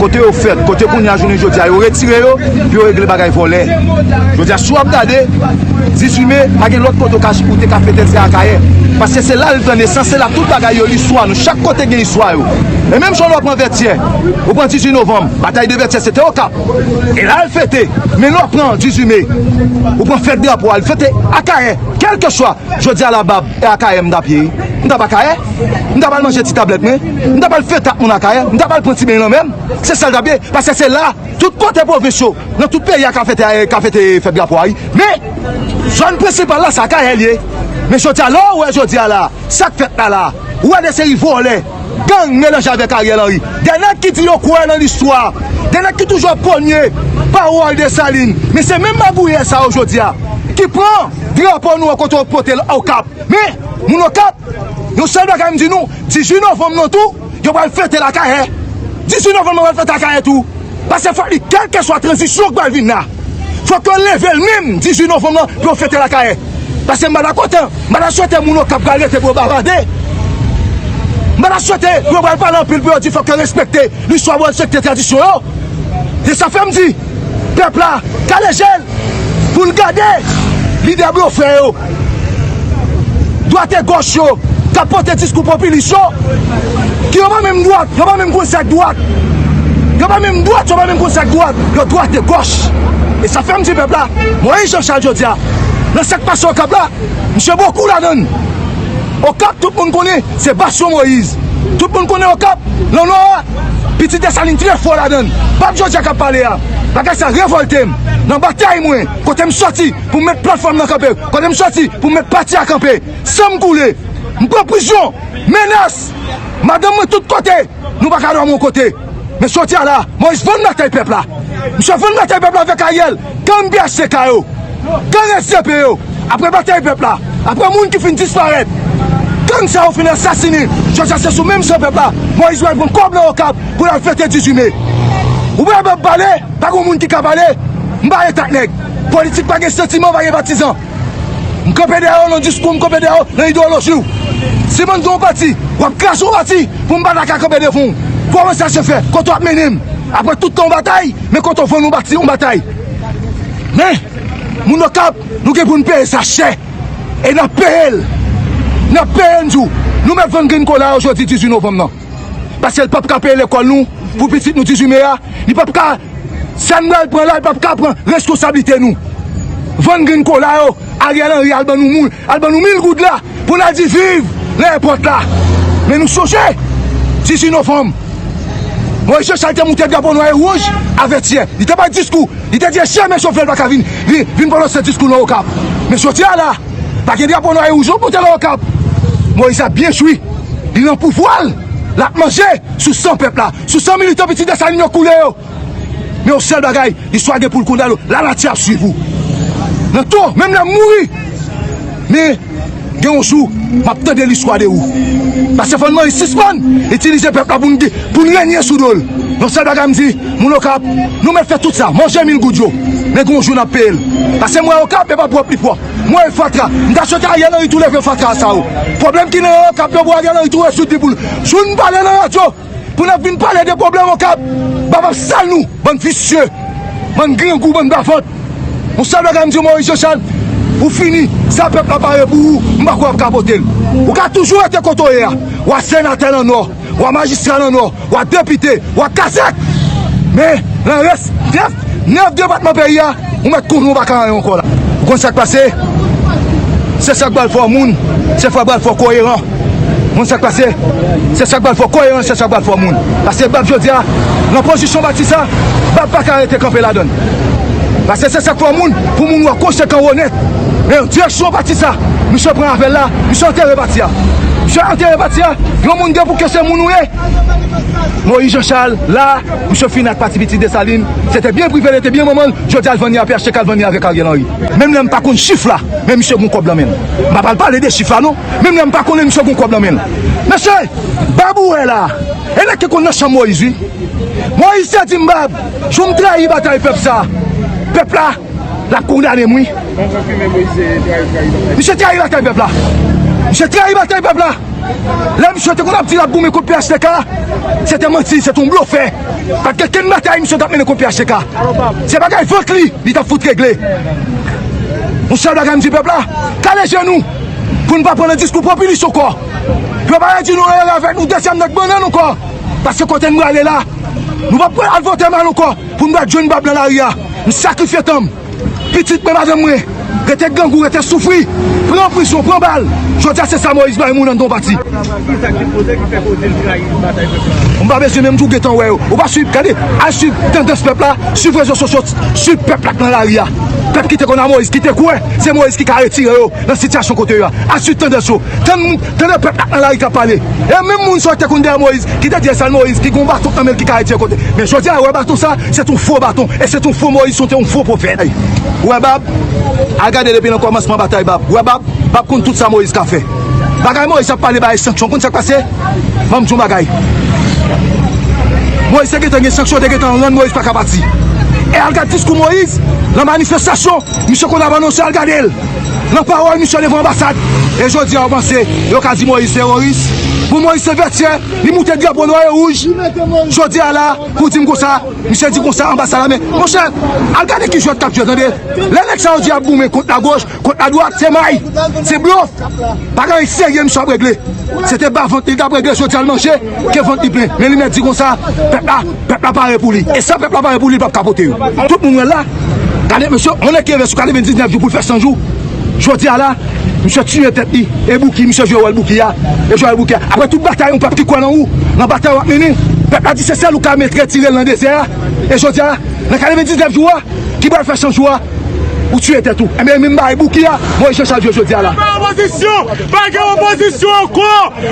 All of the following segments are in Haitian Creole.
Kote yo fèt, kote kounya jounen jodi a yo retire yo pou yo regle bagay vòlè. Jodi a si wap gade 18 me pa gen lòt kote ou ka ou te ka fete se Akayè. Paske se la li pran nesans, se la tout bagay yo listwa nou, chak kote gen istwa yo. E menm jan lè w pran Vètyè, ou pran 18 novanm, batay de Vètyè se te Okap. E la yo fete. Men lè w pran 18 me, ou pran fèt drapo a li fete Akayè. Kèlke swa, jodi a la bab. E Akayè m t ap ye? M t ap Akayè. M t ap al manje ti tablèt mwen. M t ap al fete ak moun Akayè. M t ap al pran ti beny lanmè m. Se sa l t ap ye. Paske se la, tout kote pwovens yo, nan tout peyi a ka fete ka fete fèt drapo a wi. Men, zòn prensipal la se Akayè l ye. Men jodi a, lè w wè jodi a la, sa k fèt la la, ou wè de seri vòlè. Gang melanje avèk Ariel Henry. Gen nèg ki di yo kwè nan listwa. Gen nèg ki toujou ap konye pawòl Desalin. Men se menm magouyè sa yo jodi a ki pran drapo nou an kote yo pote l Okap. Men, moun Okap, yon sèl bagay m di nou, 18 novanm nan tou, yo pral fete l Akayè. 18 novanm nan pral fete Akayè tou. Pase fòk li kèlkeswa tranzisyon k pral vin la. Fok yo level menm 18 novanm lan pou yo fete la kayè. Pase m pa dakò tan. M pa ta swete moun okap pral rete pou yo bavade. M pa ta swete pou yo pral pale anpil pou yo di fok yo respekte listwa pou yo respekte tradisyon yo. Se sa fèm di pèp la kale jel poul gade lidè blofè yo. Dwat e gòch yo k ap pote diskou popilis yo, ki yo pa menm dwat, yo pa menm konn sa k dwat, yo pa menm dwat, yo pa menm konn sa k dwat, yo dwat e gòch. E sa fè m di pèp la, Moyiz Janchal jodi a, nan sa k pase Okap la, misye gen yon kou ladan l. Okap tout moun konnen se basyon Moyiz. Tout moun konnen Okap nan Nò a, pitit Desalin trè fò ladan l. Pèp jodi a k ap pale a, bagay sa revòlte m. Nan batay mwen, kote m soti. pou m met platfòm nan kanpe, kote m soti pou m met pati a kanpe. San m koule, m pran prizon, menas, madanm mwen tout kote, nou pa ka dòmi yon kote. Men soti a la, Moyiz vann batay pèp la. Misye vann batay pèp la avèk Aryèl, gang bhtk yo, gang sdp yo. Aprè batay pèp la, aprè moun ki fin disparèt, gang sa yo fin asasine, jodi a se sou menm san pèp la Moyiz pral pran kòb nan Okap pou l al fete 18 me. Ou pa kapab pale, pa gen yon moun ki ka pale, m pa ret ak nèg. Politik pa gen santiman, pa gen patizan. M kanpe dèyè w nan diskou, m kanpe dèyè w nan idewoloji w. Si mwen gen yon pati, w ap kraze yon pati pou m pa ta ka kanpe devan w. Kòman sa se fè? Kote w ap mennen m? Aprè tout tan w batay, men kote w vann yon batay. Men, moun Okap, nou gen pou n peye sa chè. E n ap peye l. N ap peye l m di w. Nou mèt vann grenn kola yo jodi 18 novanm nan. Paske l pap ka peye lekòl nou pou pitit nou 18 me a, li pap ka sa n pral pran la li pap ka pran reskonsablite nou. Vann grenn kola yo, Ariel Henry al ban nou moul, al ban nou mil goud la pou n al di viv nan èpòt la. Men nou sonje 18 novanm Moyiz Jachal te moute drapo nwa e wouj a Vètyè, li te bay diskou, li te di e chyen men chofè l pa ka vin vin pwononse diskou nan Okap. Men jodi a la. Pa gen drapo nwa e wouj non pote nan Okap. Moïse ap byen jwi. Li nan pouvwa l. L ap manje sou san pèp la. Sou san militan pitit Desalin yo koule yo. Men yon sèl bagay, listwa gen pou l kondane w. Lanati ap swiv ou. Nan to, menm lè m mouri. Men, gen yon jou, m ap tande listwa de ou. Pastè Fònmay, sispann itilize pèp la pou n renye sou do l. Yon sèl bagay m di. Moun okap nou met fè tout sa manje mil goud yo men gon jou nap peyel pase mwen okap epa pwòp li pwòp m wèl fatra m ta swete ariel anri tou leve fatra sa yo pwoblèm ki nan okap yo pou ariel anri tou rezoud li poul joun pale nan radyo pou nap vin pale de pwoblèm okap bab ap sal nou bann visye bann grangou bann bavant yon sèl bagay m diw moris jechal ou fini sa pèp la pare pou ou m pa kwè wap ka potel ou ka toujou rete kote w ye a wa senatè nan nò. wa majistra nan nò, wa depite, wa kazèk! Men, nan rès 9, 9 depatman peyi a, ou mèt konnen ou pa ka anyen ankò la. Ou konn sa k pase? Se sa k pral fè w moun, se sa k pral fè w koyeran. Ou konn sa k pase? Se sa k pral fè w koyeran, se sa k pral fè w moun. Pase bab jodi a, nan pozisyon w bati sa, bab pa ka rete kanpe ladan l. Pase se sa k fè w moun, pou moun wè w konsekan, w onèt. Men, direksyon pati sa, misye pran avè l la, misye antere pati a. Msye antere pati a, granmoun gen pou ke se moun ou ye. Moïse Jean Charles la, msye fini ak pati pitit Dessalines, se te byen prive li, te byen manman l, jodi a l vann li a phtk al vann li avèk Ariel Henry. Menm lè m pa konn chif la, men msye gon kòb lan men l. M pa pral pale de chif la non, menm lè m pa konnen l msye gon kòb lan men l. Mesye, Bab ou wè la, e nèg ki konn nan chanm Moïse wi. Moïse te di m Bab, jou m trayi batay pèp sa, pèp la. Lap kondane m wi. Misye trayi batay pèp la. Misye trayi batay pèp la. Lè misye te konn ap di lap goumen kont phtk. Se te manti. Se te yon blofè. Pat gen ken batay misye tap mennen kont phtk. Se bagay vant li. Li tap fout regle. Yon sèl bagay m di pèp la. Kale je nou. Pou nou pa pran nan diskou popilis anko. Pou yo pa redi nou anyen avèk nou. Dezyèm nèg bannen anko. Paske kote nou ale la. Nou pap al vote mal anko. Pou m bat jwenn bab nan lari a, m sakrifye tan m, pitit mwen, madanm mwen, rete grangou, rete soufri, pran prizon, pran bal, jodi a se sa Moyiz bay moun an don pati. M pa bezwen menm di w gentan wè yo, ou pa swiv, gade, al swiv tandans pèp la, swiv rezo sosyo, swiv pèp la k nan lari a, pèp ki te konn a Moyiz, ki te kwè se Moyiz ki ka retire yo nan sitiyasyon kote yo a, al swiv tandans yo, tann moun. Tande pèp la nan lari kap pale. E menm moun sa yo ki te konn dèyè Moyiz, ki te di esèl Moyiz ki gen yon baton nan men l ki ka redi yon kote. Men jodi a, wè baton sa, se te yon fo baton. E se te yon fo Moyiz, se te yon fo pwofèt. Wè bab, al gade depi nan kòmansman batay bab. Wè bab, bab konn tout sa Moyiz ka fè. Bagay Moyiz ap pale bagay sanksyon, konn sa k pase? Ban m di w yon bagay. Moyiz te gentan gen sanksyon, te gentan rann Moyiz pa ka pati. E al gade diskou Moyiz nan manifestasyon misye konn ap anonse, al gade l. Nan pawòl misyon devan anbasad e jodi a ou panse yo ka di Moïse teroris? Bon Moïse se vètyè li moute drapo nwa e wouj jodi a la pou dim konsa misye di konsa anbasad la men monchè al gade ki jwèt kap jwèt tande lè nèg sa yo di yap goumen kont la goch kont la dwat se may se blof pa gen anyen serye misye ap regle se te bavant li tap regle jodi a l manje. Ke vant li plen, men li mèt di konsa, pèp la, pèp la pare pou li. E sa pèp la pare pou li, li pap kapote yo. Tout moun wè l la. Gade mesye, on nèg ki reve sou 99 jou pou l fè 100 jou. Jodi a la, misye tiye tèt li. E Bouki, misye jwe wòl Bouki a. E jwe wòl Bouki a. Aprè tout batay yon pèp ki kwè nan ou, nan batay w ap mennen, pèp la di se sèl ou k ap met retire l nan dezè a. E jodi a, nan 99 jou a, ki pral fè 100 jou a, Ou tuye tèt ou. Enben min bagay bouki a voye Jean Charles jwe jodia la. Anba opozisyon! Pa gen opozisyon ankò!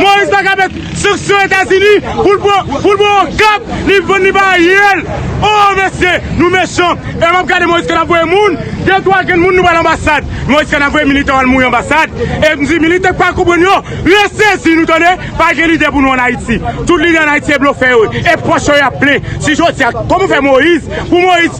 Moise ta ka met sanksyon etazini pou l pran pou l pran okap li vann li ba ariel oo mesye nou mechan e map gade moise kan ap voye moun de twa grenn moun nou pral anbasad moise kan ap voye militan yo al mouri anbasad e m di militan ki pa konprann yo resezi nou tande pa gen lidè pou nou an ayiti tout lidè an ayiti se blofè yo ye e pòch yo ap plen si jodia kòman fè moise pou moise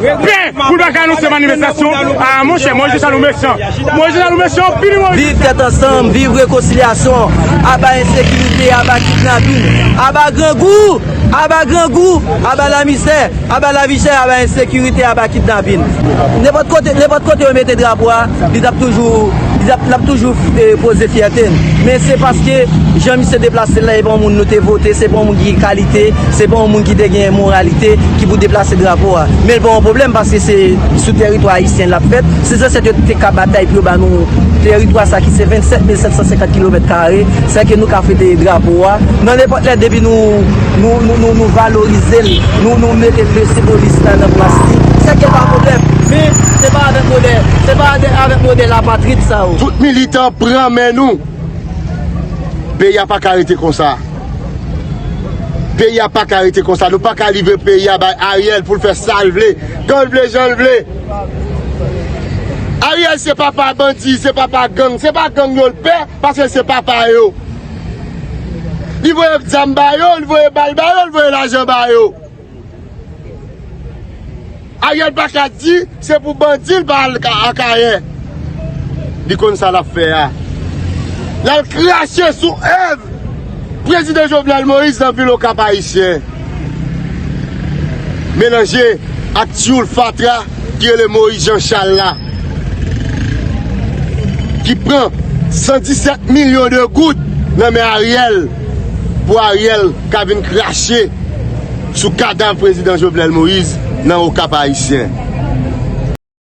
Prè pou l pa ka anonse manifestasyon a monchè Moise Jean Charles ou mechan Moise Jean Charles ou mechan anpil wi Moise. Viv tèt ansanm, viv rekonsilyasyon, aba ensekirite, aba kidnapin, aba grangou, aba grangou, aba lamisè, aba lavichè, aba ensekirite, aba kidnapin. Nenpòt kote, nenpòt kote yo mete drapo a. Li t ap toujou, li t ap, l ap toujou koze fyète n. Men se paske jan misye deplase l la e pa yon moun nou te vote, se pa yon moun ki gen kalite, se pa yon moun ki te gen moralite ki pou deplase drapo a. Men l pa yon pwoblèm paske se sou tèritwa ayisyen l ap fèt. Se zansèt yo te ka batay pou yo ba nou tèritwa sa ki se 27 mil 750 kilomèt kare. Sa fè ke nou ka fete drapo a nan nenpòt lè depi nou, nou, nou, nou valorize l, nou, nou mete mesye polis la nan plas li. Sa fè ke l pa yon pwoblèm. Men se pa avè. Modè, se pa de avèk modè lapatrid sa yo. Tout militan pran men nou. Peyi a paka rete konsa. Peyi a paka rete konsa. Nou paka livre peyi a bay Ariel pou l fè sa l vle. Kan l vle, jan l vle. Ariel se papa bandi, se papa gang. Se pa gang yo l pè, paske se papa yo. Li voye zam ba yo, li voye bal ba yo, li voye lajan ba yo. Ariel paka di se pou bandi li pa al akayè li konn sa lap fè a lal krache sou èv prezidan jovenel moïse nan vil okap ayisyen melanje ak tyoul fatra ki rele moïse jean charles la ki pran 117 milyon de goud nan men ariel. Pou Ariel ka vin krache sou kadav prezidan Jovenel Moïse nan okap ayisyen.